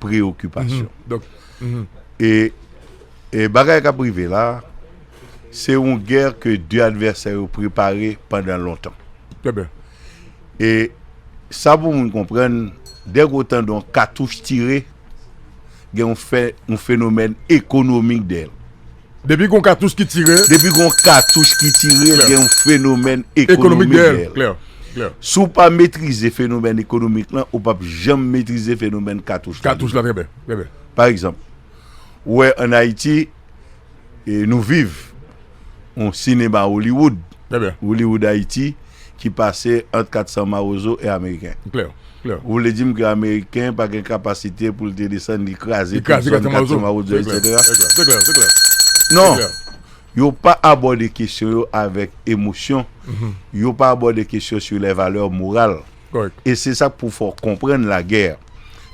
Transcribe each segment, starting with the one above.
preokipasyon. E bagay k ap rive la, se yon gè ke 2 advèsè yo prepare pandan lontan. E sa pou moun konprann, dèk ou tande yon katouch tire, gen yon fè yon fenomèn ekonomik dèyè l. Depi gon katouch ki tire. Depi gon katouch ki tire gen yon fenomèn ekonomik dèyèl. Si w pa metrize fenomèn ekonomik lan ou p ap janm metrize fenomèn katouch la. Katouch la trè byen, trè byen. Pa egzanp, ou wè an Ayiti nou viv yon sinema Hollywood, Hollywood Ayiti ki pase ant 400 mawozo e ameriken. Ou vle di m ke Ameriken pa gen kapasite pou l te desann, li kraze tout zòn katye mawozo eksetera? Non! Yo pa abòde kesyon yo avèk emosyon, yo pa abòde kesyon sou lè valè moral. E se sa k pou fè w konprann lagè.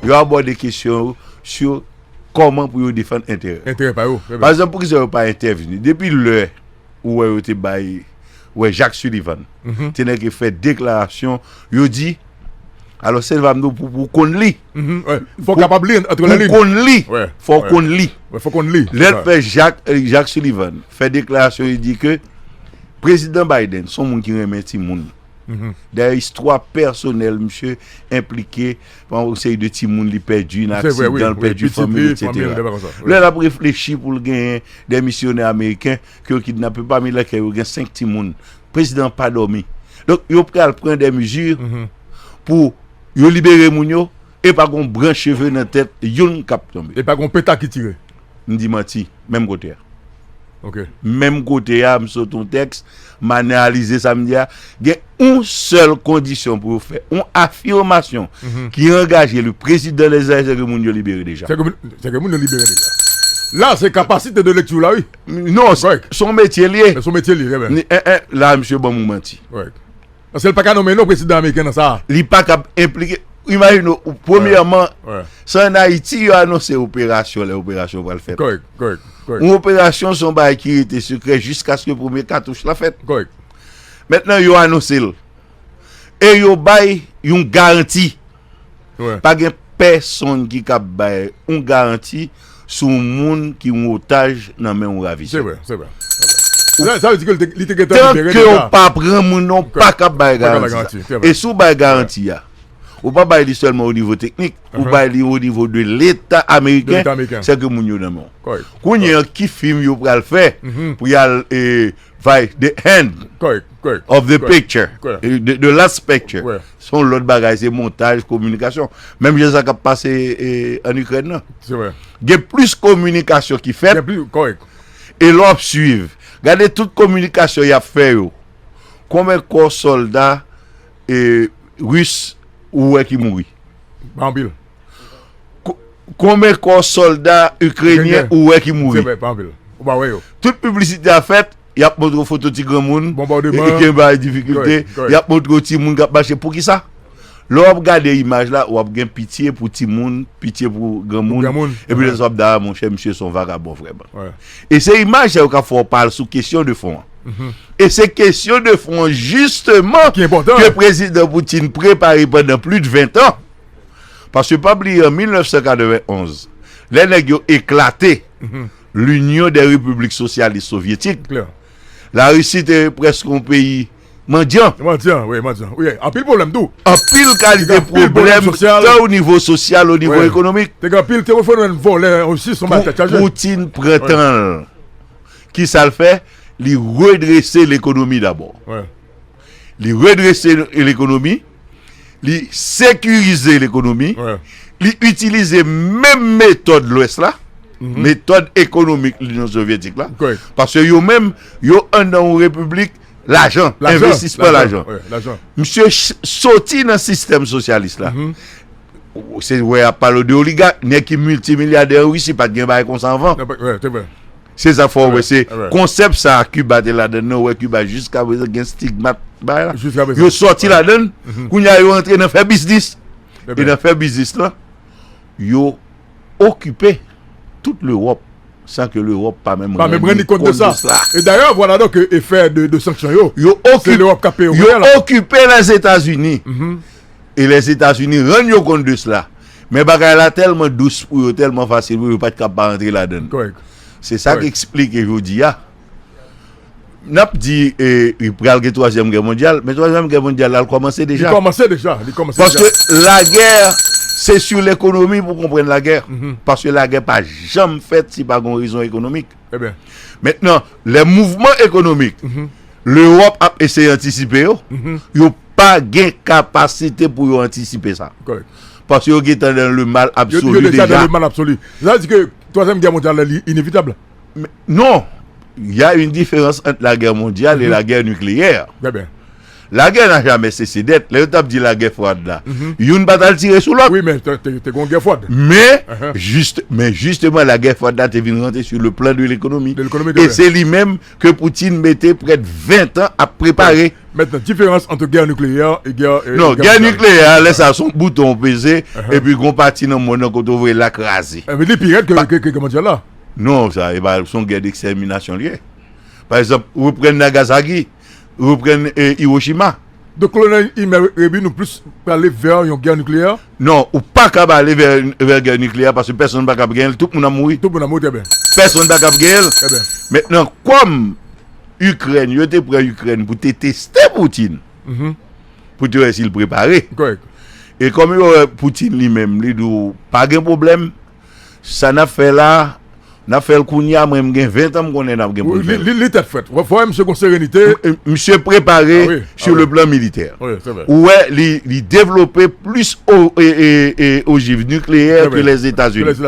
Yo abòde kesyon yo sou kòman pou yo defann enterè. Entèrè pa yo. Parekzanp, poukisa yo pa entèvni? Depi lè. ou wè yo te bay wè Jacques Sullivan te nèk e fè deklarasyon yo di alò sèl va mdo pou pou konn li pou konn li fò w konn li lè l fè Jacques Sullivan fè deklarasyon yo di ke prezidan Biden son moun ki renmen ti moun Dayè istwa pèsonèl misye enplike pa yon seri de timoun li pèdi nan aksidan, li pèdi fanmi li, etsetera. Lè l ap reflechi pou l genyen de misyonè ameriken ke yo kidnape pami lèkèl yo gen 5 timoun, prezidan an pa dòmi. Donk yo pral pran de mezi pou yo libere moun yo. E pa gon branch cheve nan tèt youn k ap tonbe. E pa gon peta ki tire. M di manti, menm kote a. Ok. Menm kote a, m sot yon tèks, m analize sa m di a. Gen yon sèl kondisyon pou yo fè yon afimasyon ki angaje li prezidan lè sa se ke moun yo libere deja. Se ke, se ke moun yo libere deja. La se kapasite de lekti w la wi. Non, s on metye l ye. S on metye l ye, trè byen. Ni, en en, la misye ban m yon manti. Règ. Paske li pa ka nonmen non prezidan ameriken nan sa a. Li pa kab enplike. Imajine ou, premyèman, se ann Ayiti yo anonse operasyon lè operasyon pral fèt. Kòrèk, kòrèk, kòrèk. Yon operasyon se yon bagay ki rete sekrè jiskaske premye katouch la fèt. Kòrèk. Mentnan yo anonse l e yo bay yon garanti. Pa gen pèsonn ki kab bay yon garanti sou yon moun ki yon otaj nan men yon ravisè. Tanke w pa pran moun nan, w pa kab bay garanti sa. E si w bay garanti a, ou pa bay li sèlman o nivo teknik, ou bay li o nivo de leta ameriken, sèke moun yo nan men w. Kounye an, ki fim yo pral fè pou y al vay the end of the picture, the last picture? Se yon lòt bagay, se montaj, kominikasyon. Menm jan sa k ap pase ann Ikrèn nan. Se vre. Gen plis kominikasyon ki fèt. Gen plis, kòrèk. E lè w ap suiv, gade tout kominikasyon y ap fè yo, konben kò sòlda ris ou wè ki mouri? Pa anpil. Konben kò solda Ukrenyen ou wè ki mouri? Tout piblisite a fèt, yap montre w foto ti granmoun, Ukren pa an difikilte, yap montre w timoun kap mache, poukisa? Lè wap gade imaj la, wap gen pitye pou timoun, pitye pou granmoun, epi lè sa wap di a monchè misye son vagabon vrèman. E se imaj sa yo kap fè w pa al sou kesyon de fon an. E se kesyon de fon an jisteman ke Prezidan Putin prepare pandan plis 20 an. Paske pa bliye an 1991, lè nèg yo eklate Linyon dè Repiblik Sosyalis Sovyetik, Larisi te prèske yon peyi mandyan. Anpil kalite pwoblèm tan o nivo sosyal, o nivo ekonomik. Poutine pran tan l. Kisa l fè? Li redrese lekonomi dabò. li redrese lekonomi, li sekirize lekonomi, li itilize menm metòd lwès la, mhm. metòd ekonomik linyon sovyetik la, paske yo menm, yo an nan ou republik, lajan, investisman lajan. Mse soti nan sistem sosyalis la, mhm. se wè ap palo de oligat, ne ki multimilliade ou si pat gen bay konsan van. Se sa fè w wè se konsèp sa a Kiba te ladan l lan, ou wè Kiba jiskaprezan gen stigmat ba l la. Yo sòti ladan l, kounye a yo antre nan fè biznis. E nan fè biznis lan, yo okipe tout Lewòp san ke Lewòp pa menm rann li kont de sa. E dayè, vwala donk efè de sanksyon yo, se Lewòp k ap peye w kounye a la. Yo okipe Lèzetazini. e Lèzetazini rann yo kont de sla. Men bagay la tèlman dous pou yo, tèlman fasil pou yo, yo pa t kab pa rantre ladan l. Se sa k esplike jodi a, n ap di pral gen twazyèm gè mondyal, men twazyèm gè mondyal la, l kòmanse deja. Li kòmanse deja. Paske lagè, se sou lekonomi pou w konprann lagè. Paske lagè pa janm fèt si pa gen yon rezon ekonomik. Mentnan, lè mouvman ekonomik Lewòp ap eseye antisipe yo, yo pa gen kapasite pou yo antisipe sa. Paske yo gentan nan le mal absoli deja. Yo deja nan le mal absoli. Sa vle di ke Twazyèm Gè Mondyal la li inevitab? Non! Ya yn diferans ant lagè mondyal e lagè nikleyè. Lagè na jamè sese dèt. Lè yo tap di lagè fwad la, youn pat al tire sou lòt. Wi men te gon gè fwad. Men, jist, men jisteman lagè fwad la te vin rantre sou le plan de lekonomi. De lekonomi de. E se li menm ke Poutine mete prèt 20 tan ap prepare. Mentnan, diferans antre gè nikleyè e gè. Non, gè nikleyè a, lè sa son bouton ou peze, epi gon pati nan monn nan kote ou voye la kraze. Epi li pi rèd ke gè mondyal la. Non, sa e pa son gè dekstèminasyon li ye. Pa egzanp, reprann Nagasaki. reprann Hiroshima. Donk kolonèl Imer Réby nou plis prale vè yon gè nikleyè? Non, ou pa kab ale vè gè nikleyè paske pèsonn pa kab genyen l, tout moun ap mouri. Tout moun ap mouri, trè byen. Pèsonn pa kab genyen l. Trè byen. Mentnan kòm Ikrèn, yo te pran Ikrèn pou te teste Poutin, pou te wè si l prepare. Kòrèk. E kòm yo wè Poutin li menm li di w pa gen pwoblèm, Sa nap fè la Nap fèl kounya mwen m gen 20 ans m konnen nap gen poun fèl. Li tèt frèt wap wè misye gon serenite. Misye prepare sur le plan militaire. Ou wè li devlope plis ojiv nucleaire ke les etats unis.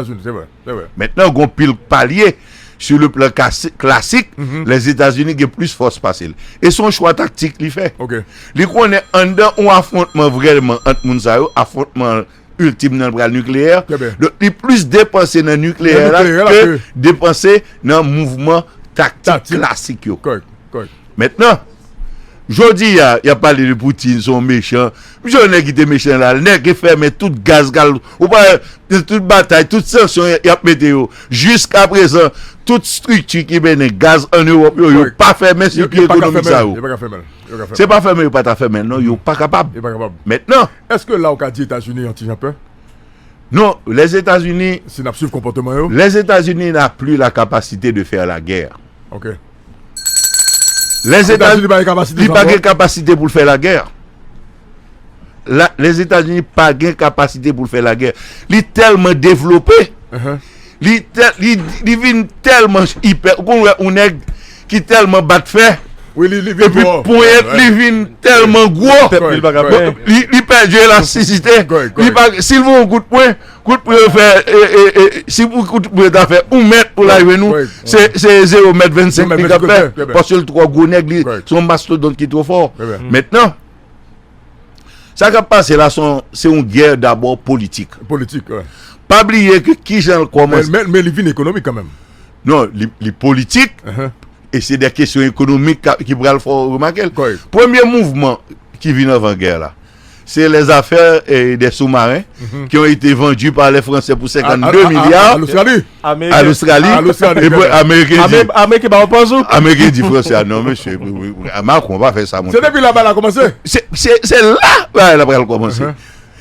Mentnan gon pil palye sur le plan klasik les etats unis gen plis fòs pase l. E son chwa taktik li fè. Li konnen anndan yon afwontman vrèman ant moun sa yo afwontman. Ultim nan pral nikleyè Donk li plis depanse nan nikleyè la ke depanse nan mouvman taktik klasik yo Mentnan Jodi a yap pale de Poutine son mechan Misye yon nèg ki te mechan la Nèg ki fèmen tout gaz kal Ou pa wè tout batay tout sanksyon yap mete yo Jiska prezan tout strikti ki mennen gaz an Ewòp yo yo pa fèmen sikil ekonomik sa yo Se pa fèmen yo pa ta fèmen non yo pa kapab Mentnan. Eske la ou ka di etazini yon ti jan pè? Non, les Etats-Unis, si nap swiv konpòteman yo. Les Etats-Unis n'a plus la capacité de faire la guerre. Ok. Les Etats-Unis pa gen kapasite sa ankò. Li pa gen kapasite pou l fè la guerre. Les Etats-Unis pa gen kapasite pou l fè la guerre. Li tèlman devlope, li vin tèlman ipè, ou konn wè yon nèg ki tèlman bat fè epi ponyèt li vin tèlman gwo li pèdi elastisite si l voye yon kout pwen kout pwen yo fè si kout pwen ta fè 1 mèt pou l arive nou se 0 mèt 25 li ka fè paske l twò gwo nèg li se yon mastodont ki twò fò mètnan sa k ap pase la se yon gè dabò politik pa bliye ki jan l kòmanse men li vin ekonomik kanmèm Non, li politik, e se de kesyon ekonomik ki pral fè w remake l. Premye mouvman ki vin anvan gè la, se lè zafè de soumaren ki yon ete vandu pa lè franse pou 52 milya a lostrali, e pou ameriken di, ameriken pa w pa zou, ameriken di franse a, non mesye, makron pa fè sa mouche. Se depi la bagay la komanse? Se la bagay la pral komanse.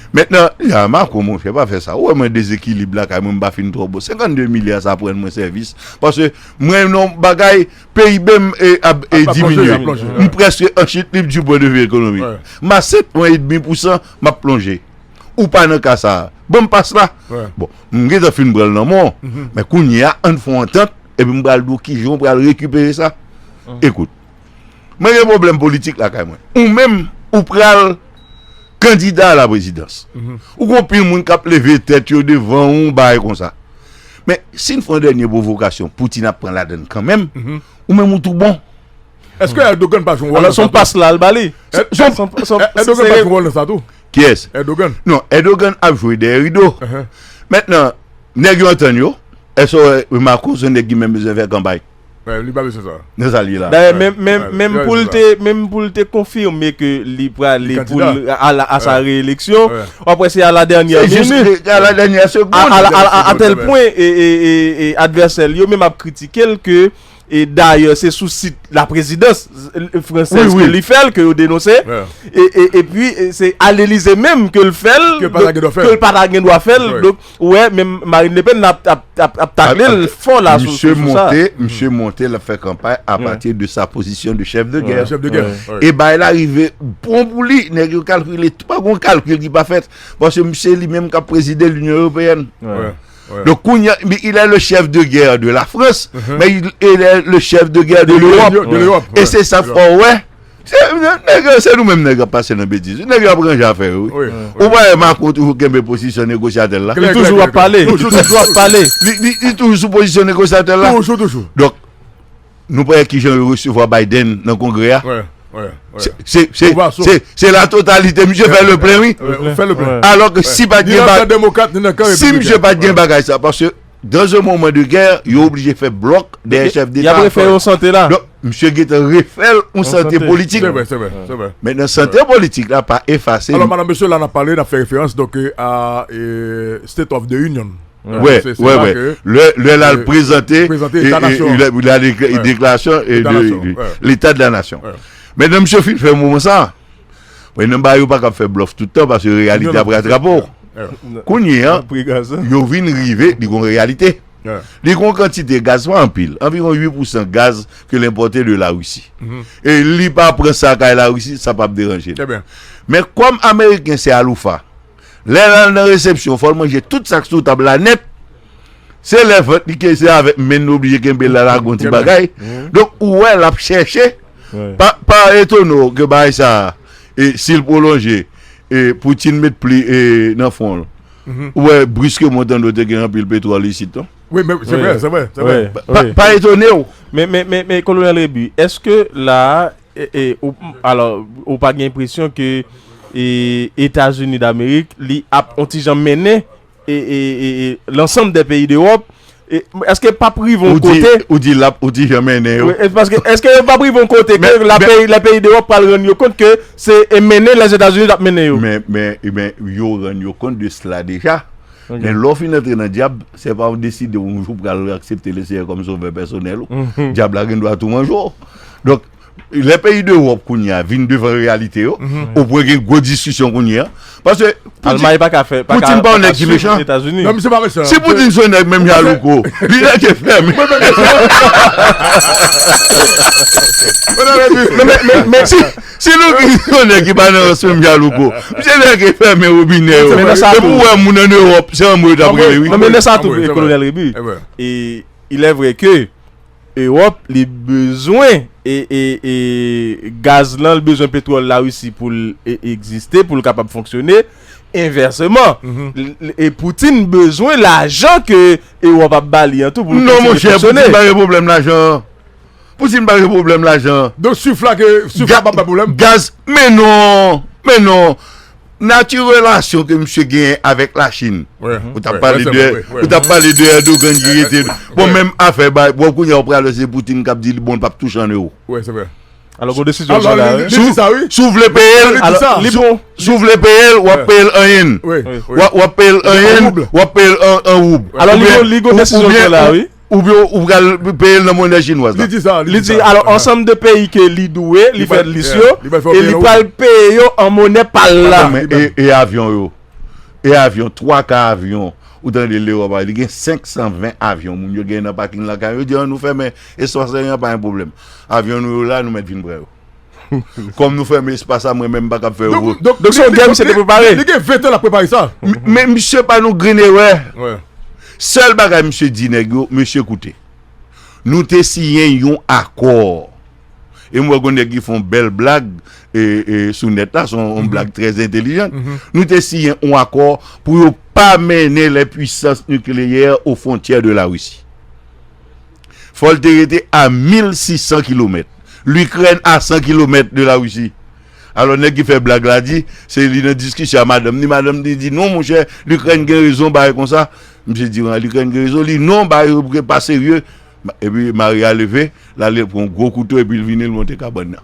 Mentnan, li a Marco monchè pa fè sa, ou wè mwen dezekilib lakay mwen m pa fin twò bon, 52 milya sa pou rann mwen sèvis, paske mwen nan yon bagay PIB m ap diminye, m prèske an chit lib di pwen de vi ekonomik, m a 7 pwen edmi pousan m ap plonje, ou pa nan ka sa, ban m pas la, bon m gentan fin pran l nan men w, men kounye a an n fè yon antant epi m pral di w kijan ou pral rekipere sa, ekout. Mwen gen pwoblèm politik lakay mwen. Ou menm ou pral kandida a la prezidans. Ou gen anpil moun k ap leve tèt yo devan ou bagay konsa. Men, si n fè yon dènye pwovokasyon, Poutin ap pran ladan l kanmenm, ou menm ou tou bon. Èske Erdogan pa jwe wòl nan sa tou? Alò se yon pas la l ba li? Erdogan pa jwe wòl nan sa tou? Kiyès? Erdogan. Non, Erdogan ap jwe dèyè rido. Mètnan, nèg yo antann yo. Èske w remake w se nèg ki menm bezwen fè kanpay? Li pa bezwen sa. Nan sa l ye la. Dayè menm pou l te menm pou l te konfime ke li prale pou l a sa reeleksyon w ap wè se a la dènyè minit a la dènyè segonn a tèl pwen e advèsè l yo menm ap kritike l ke e dayè se sou sit la prezidans fransèz ke li fè l ke yo denonse e pi se a l Elize menm ke l fè l ke l pa ta gen dwa fè l. Ou wè menm Marine Le Pen ap takle l fò la sou sa. Misye monte l ap fè kanpay apati de sa pozisyon de chèf de gè. E bagay la rive bon pou li. Nèg yo kalkile tout. Pa gon kalkil ki pa fèt. Paske misye li menm k ap prezide linyon eropeyèn. Donk kounya ilè le chèf de gè de la Frans men ilè le chèf de gè de l'Europe. E se sa fò wè. Nèg yo se nou menm nèg ap pase nan betiz wi nèg yo ap ranje afè yo wi ou pa wè Macron toujou kenbe pozisyon negosyatè l la li toujou ap pale li toujou sou pozisyon negosyatè l la donk nou pa wè kijan yo resevwa Biden nan kongrè a se la totalite misye fè le plen wi alò ke si pat gen bagay sa paske. Dans un moment de guerre, yo oblije fè blòk dèyè chèf deta ak sòlda. Donk, misye gentan refè l yon sante politik. Se vre, se vre, se vre. Mentnan sante politik la pa efase. Alò, madan mesye, la n ap pale, n ap fè referans donk a State of the Union. Wè, wè, wè. Lè l al prezante deklarasyon Leta de la Nasyon. Mentnan misye fin fè mouvman sa a. Mwen nan ba yo pa kap fè blòf tout tan paske reyalite ap ratrape w. Kounye an, yo vin rive li gon reyalite. Li gon kantite gaz, pa anpil, anviwon 8 pousan gaz ke l enpòte de Larisi. E li pa pran sa kay Larisi, sa pap deranje l. Men kòm ameriken se aloufa, lè l al nan resepsyon fò l manje tout sa k sou tab la nèt. Se lè vant li ke se avèk menn li oblije kenbe la lage yon ti bagay. Donk ou wè l ap chèche. Pa etone w ke bagay sa a e si l pwolonje e Poutine met pli e nan fwon l. Ou wè briskemon w tande w te gen anpil petwòl isit non. Wi men se vre, se vre, se vre. Pa etone w. Men, men, men, men Kolonèl Rebu, èske la a e ou alò ou pa gen enpresyon ke e Etazini Damerik li ap yon ti jan mennen e lansanm dè peyi dewòp eske pap rive yon kote ou di lap ou di janmen nen yo eske yo pap rive yon kote ke la peyi la peyi dewòp pral rann yo kont ke se e mennen lè zetazini tap mennen yo men men e men yo rann yo kont de sla deja men lè w fin antre nan dyab se pa w deside yon jou pral aksepte leseyè kòm sovè pèsonèl ou dyab la gen dwa tou manje w donk Lè peyi dewòp kounye a vin devan reyalite yo, ou pwen gen gwo diskisyon kounye a. Pase Poutine pa yon nèg ki mechan. Si Poutine se yon nèg menm jan a Louko, li nèg ki fèmen. Si Louko se yon nèg ki pa nan rans menm jan a Louko, misye nèg ki fèmen wobinè yo. E pou wè moun an Ewòp, se anmwe yo t ap rele wi. Men lè sa tou Kolonèl Rebu, e ilè vre ke Europe li bezwen gaz lan li bezwen petrol la Russie poul egziste poul kapab fonksyone envèseman e Poutine bezwen lajan ke Europe ap bali an tou poul kontinye fonksyone. Non monchè Poutine pa gen pwoblèm lajan an Poutine pa gen pwoblèm lajan an. Donk suf la ke suf la pap bay pwoblèm. Gaz men non men non. Nati relasyon ke misye genyen avèk la Chine. Ou tap pale de, ou tap pale de Erdogan ki rete. Bon menm afè bay, bon kounye a ou pral wè se Poutine kap di li bon li pap touche an euro. Wi se vre. Alò gon desizyon ki sot la wi. Li di sa wi. Si w vle peye l, si w vle peye l, wap peye l an yen. Wap peye l an yen, wap peye l an roub. Alò li gon desizyon ki sot la wi. Oubyen ou pral peye l nan monè chinwaz la. Li di sa. Li di alò ansanm de peyi ke li dwe li fè lis yo e li pral peye yo an monè pa l la. E avyon yo? E avyon? Twa ka avyon ou tande Lewòp a li gen 520 avyon moun yo gen nan paking lakay yo. Yo di an nou fèmen e 61 an pa yon pwoblèm. Avyon nou yo la nou mèt vin pran yo. Kòm nou fèmen espas la mwen menm m pa kab fè yo. Donk se yon gè misye te prepare. Li gen 20 tan lap prepare sa. Men misye pa nou grenn erè. Sèl bagay misye di nèg yo, mesye koute. Nou te siyen yon akò. E m wè gon nèg ki fè yon bèl blag sou nèt la, se yon blag trè entelijant. Nou te siyen yon akò pou yo pa mennen lè pwisans nikleyè o fwontyè de la Risi. Fò l te rete a 1600 kilomèt. Likrèn a 100 kilomèt de Larisi. Alò nèg ki fè blag la di, se li nan diskisyon a madanm ni, madanm ni di non monchè, Likrèn gen rezon bagay konsa. Misye di an Likrèn gen rezon, li non bagay yo bouke pa serye. Epi mari a leve, l ale l pran yon gwo kouto epi l vini l monte kabann nan.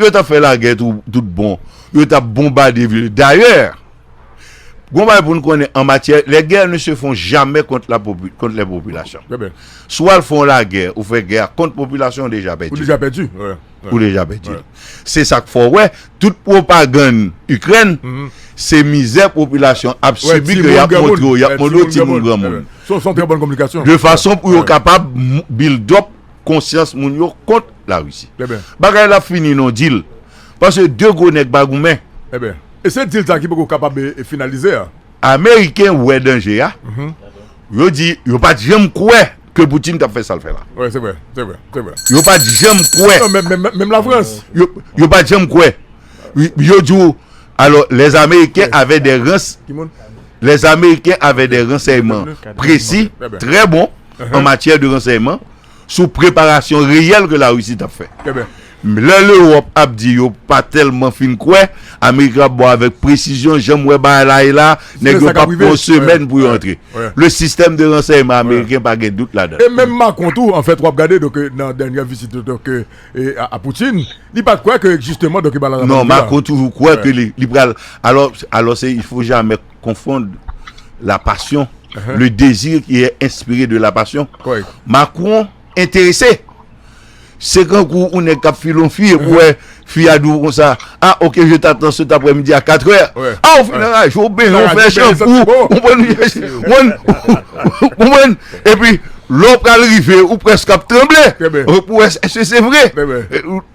Yo tap fè lagè tout bon. Yo tap bonbade vil. Dayè, gon bagay pou n konnen an matyè, les guerres ne se font jamais contre la contre les populations. Trè byen. Si w al fè yon lagè, ou fè gè a kont popilasyon, ou deja pèdi. Ou deja pèdi. Ou deja pèdi. Se sa k fè w wè, tout pwopagann Ikrèn, se mizè popilasyon ap sibi ke y ap montre w, y ap montre w timoun granmoun. Se yon trè bòn kominikasyon. De fason pou yo kapab build up konsyans moun yo kont la Russie. Bagay la ap fini non deal. Paske 2 gwo nèg pa goumen. Eben. E se deal sa ki poko kapab finalize a. Ameriken wè danje a. Yo di yo pat janm kwè ke Poutine tap fè sal fè la. Wi se vre. Se vre. Se vre. Yo pat janm kwè. Non men men menm la France. Yo pat janm kwè. Yo di w alò les ameriken avè de rans. Ki moun? Les ameriken avè de ransèyman presi, trè bon. an matyè de ransèyman sou preparasyon reyèl ke Larisi t ap fè. Lè Lewòp ap di yo pa tèlman fin kwè, Amerik la ap bo avèk presizyon, jan m wè bagay la ye la, nèg yo p ap pran yon semèn pou yo antre. Le sistèm de ransèyman ameriken pa gen dout ladan l. E menm Macron tou, an fèt, w ap gade donk nan dènyè visit li donk a Poutine, li pa t kwè ke jisteman donk e ba la. Non, Macron toujou kwè ke li pral, alò, alò se il faut jamais. konfond la pasyon, le dezi ki e enspire de la pasyon. Macron enterese. Se kan kou ou ne kap filon fi, e pou e fi a dou kon sa, a ok je ta tan se ta pre midi a 4 er. A ou finan a jou, ou ben yon fè chan pou, ou bon nou yon chan pou, ou bon nou yon chan pou, e pi lò pral rive, ou pres kap tremble, ou pou e se se vre.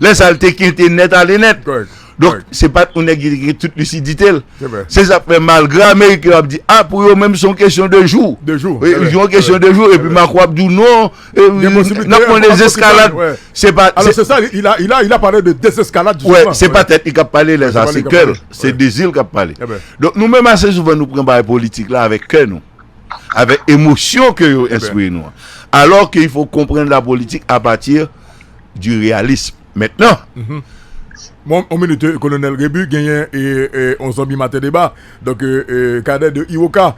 Lè sa l te kente nèt ale nèt. Donk, se pa t yon nèg ki te gen tout lisidite l. Se sa k fè malgre Ameriken yo ap di, a pou yo menm se yon kesyon de jou. Se yon kesyon de jou. Epi Mako ap di w non, n ap pran dezeskalad. Se pa tèt li k ap pale lè sa, se kè l, se dezi l k ap pale. Donk, nou menm ase souvan nou pran bagay politik la avèk kè nou, avèk emosyon ke yo enspire nou an. Alò ke il fò konprann lapolitik apati. du realisme maintenant. Bon on minute kolonel Rebu genyen on zanmi maten deba donk Cadet de Iwoka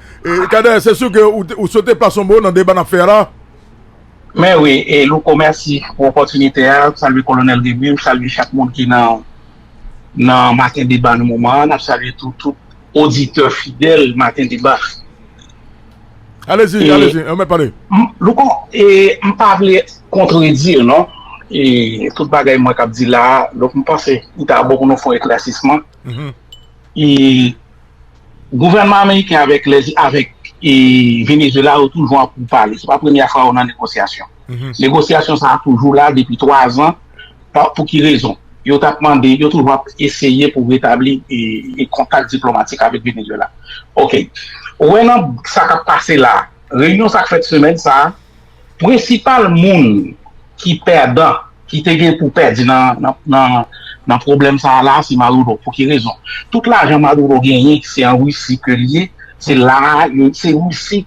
Cadet se su ke ou swete plas on mo nan deba nap fè a la. Mè wi Louko mèsi pou opòtinite a salye kolonel Rebu m salye chak moun ki nan maten deba nan moman an nap salye tou tout oditè fidèl maten deba. Alezi, alezi, anmè pale. Louko, e m pa vle kontredi w non, e tout bagay mwen kap di la a, donk m panse li ta bon pou nou fè yon eklèsisman. E gouvènman ameriken avèk Venezuela yo toujou an pou pale, se pa premyè fwa yo nan negosyasyon. Negosyasyon sa a toujou la depi 3 zan, pou ki rezon? Yo tap mande, yo toujou ap eseye pou retabli kontak diplomatik avèk Venezuela. Ok. Ou wè nan sa kap pase la, reyinyon sa k fèt semèn sa a, prensipal moun ki pèdan, ki te gen pou pèdi nan pwoblèm sa a la, se Maduro. Pou ki rezon? Tout lajan Maduro genyen, se an Russie ke li ye, se la a, se Russie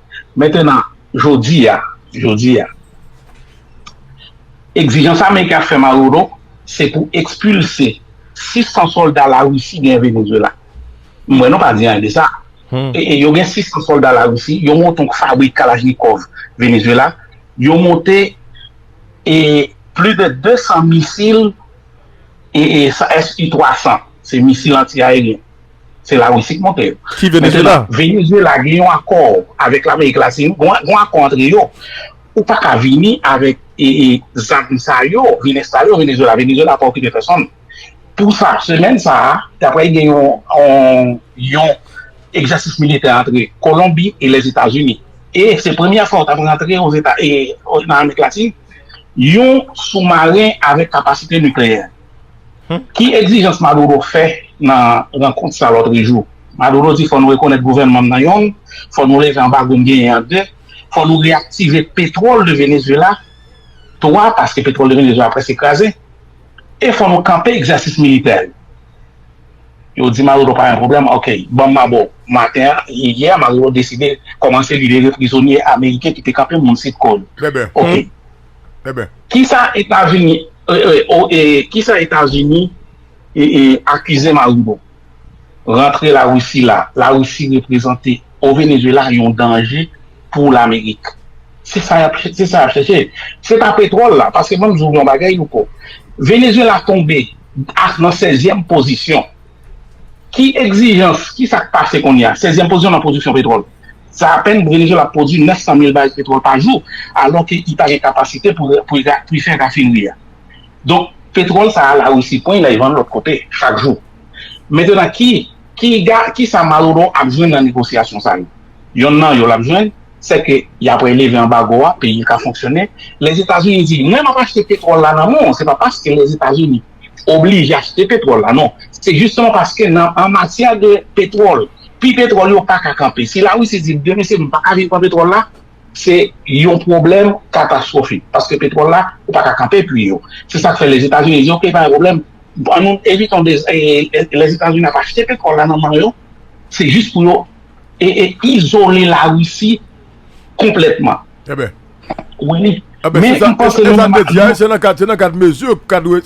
Mentenan, jodi a, jodi a, egzijans Ameriken ap fè Maduro, se pou ekspilse 600 sòlda Larisi genyen Venezwela. M wè nou pa di anyen de sa. E yo gen 600 sòlda Larisi, yo monte yon fabrik kalachnikòv Venezwela, yo monte e plis de 200 misil e e sa SU-300, se misil anti-aeryen. Se la Russie ki monte yo. Ki Venezuela? Venezuela gen yon akò avèk Lamerik Latin, yon akò antre yo. Ou pa ka vini avèk zam sa yo, vin enstale yo Venezuela. Venezuela pa okipe pèsonn. Pou sa, semèn sa a, ta prèy gen yon egzèsis militè antre Kolonbi e Lèzetazini. E se premyè fwa ou ta prèy antre nan Amerik Latin yon soumaren avèk kapasite nikleyè. Hum. Ki egzijans Maduro fè nan rankont sa lòtrejou? Maduro di fò nou rekonèt gouvènman m nan yon, fò nou leve anbago m genyen an de, fò nou reyaktive petwòl de Venezuela twa, paske petwòl de Venezuela prèske kraze, e fò nou kanpe egzèsis militè l. Yo di Maduro pa gen pwoblèm, ok, ban m ma ba w. Maten an, yè, Maduro deside kòmanse libere prizonye ameriken ki te kanpe moun Sitko yo. Trè byen. Ok. Eben. Kisa etazini kisa etazini akize maruro rantre la russie la la russie reprezante o Venezuela yon danje pou lamerik se sa yap se sa yap chèche se pa petrol la paske mwen di w yon bagay louko Venezuela tonbe ak nan sèzyèm pozisyon ki egzijans kisa k pase konnya sèzyèm pozisyon nan pwodiksyon petrol. Sa apèn Venezuela ap pwodwi 900 mil baril petwòl pa jou, alò ke i pa gen kapasite pou pou i fè rafinri a. Donk, petwòl sa a Larisi pran, lay vann lòt kote, chak jou. Mentnan ki ki ga ki sa Maduro ap jwenn nan negosyasyon sa yo? Yonn nan yo l ap jwenn, sè ke y apre leve anbago a, peyi l ka fonksyone. Lèzetazini di, mwen m ap achte petwòl la nan men w, se pa paske Lèzetazini. oblije achte petwòl la non se jisteman paske nan an matyè de petwòl pri petwòl yo paka kanpe si la Russie di byen mesye nou paka viv an petwòl la se yon pwoblèm katastwofik paske petwòl la ou paka kanpe pri yo se sak fè Lèzetazini di ok pa gen pwoblèm an nou evitons de Lèzetazini ap achte petwòl la nan men yo se jis pou yo e e izole la Russie. konplètman. Eben. Wi. Eben, se sa, se sa te di a, se nan kad, se nan kad mezi,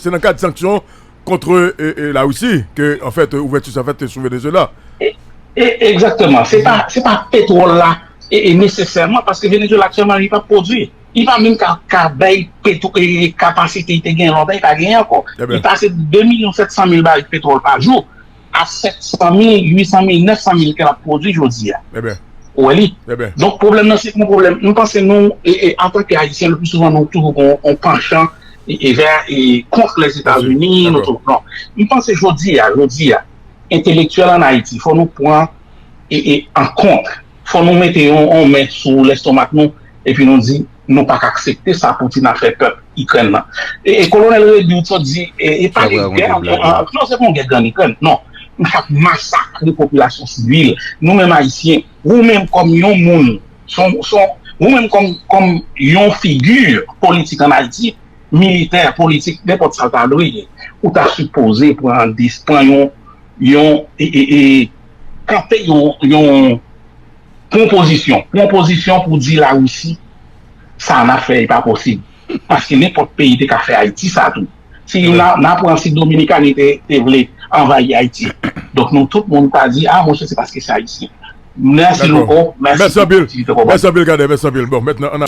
se nan kad sanksyon kontre la Wisi, ke, an fèt, ouvèti sa fèt sou Venezuela. E, e, egzakteman. Se pa, se pa petwòl la, e, e, nesesèman, paske Venezuela aktiyèlman li pa pwodui. Li pa menm ka, ka bay petwò, e, e, kapasite li te gen lòtan, li pa genyen ankò. Li pase 2 milyon 700 mil barik petwòl pa jou. a 700 mil, 800 mil, 900 mil ke lap pwodwi jodi a. Ou wè li? Donk pwoblèm nan se yon pwoblèm, m panse nou antanke Ayisyen le pli souvan nou toujou gen yon panchan vè kont Lèzetazini, nou toujou non. M panse jodi a, jodi a, entelektyèl an Ayiti fò nou pran an kont, fò nou mete yon men sou lèstomak nou epi nou di. nou pa ka aksepte sa Putin ap fè pèp Ikrèn nan. E Kolonèl Rebu t di e pa de gè non se pa yon gè grann Ikrèn non nou pa k masakre popilasyon sivil nou menm Ayisyen ou menm kòm yon moun son son ou menm kòm kòm yon figi politik an Ayiti militè politik nenpòt sa l ta dwe ye ou ta sipoze pran an dis pran yon yon e e e kanpe yon yon Pwonpozisyon, pwonpozisyon pou di la Russie sa nap fè e pa posib paske nenpòt peyi te ka fè Ayiti sa tou si yon nan pran si Dominikani te vle anvayi Ayiti donk nou tout moun ta di a monchè se paske se Ayisyen mèsi louko mèsi pou opòtinite ke w ban mwen.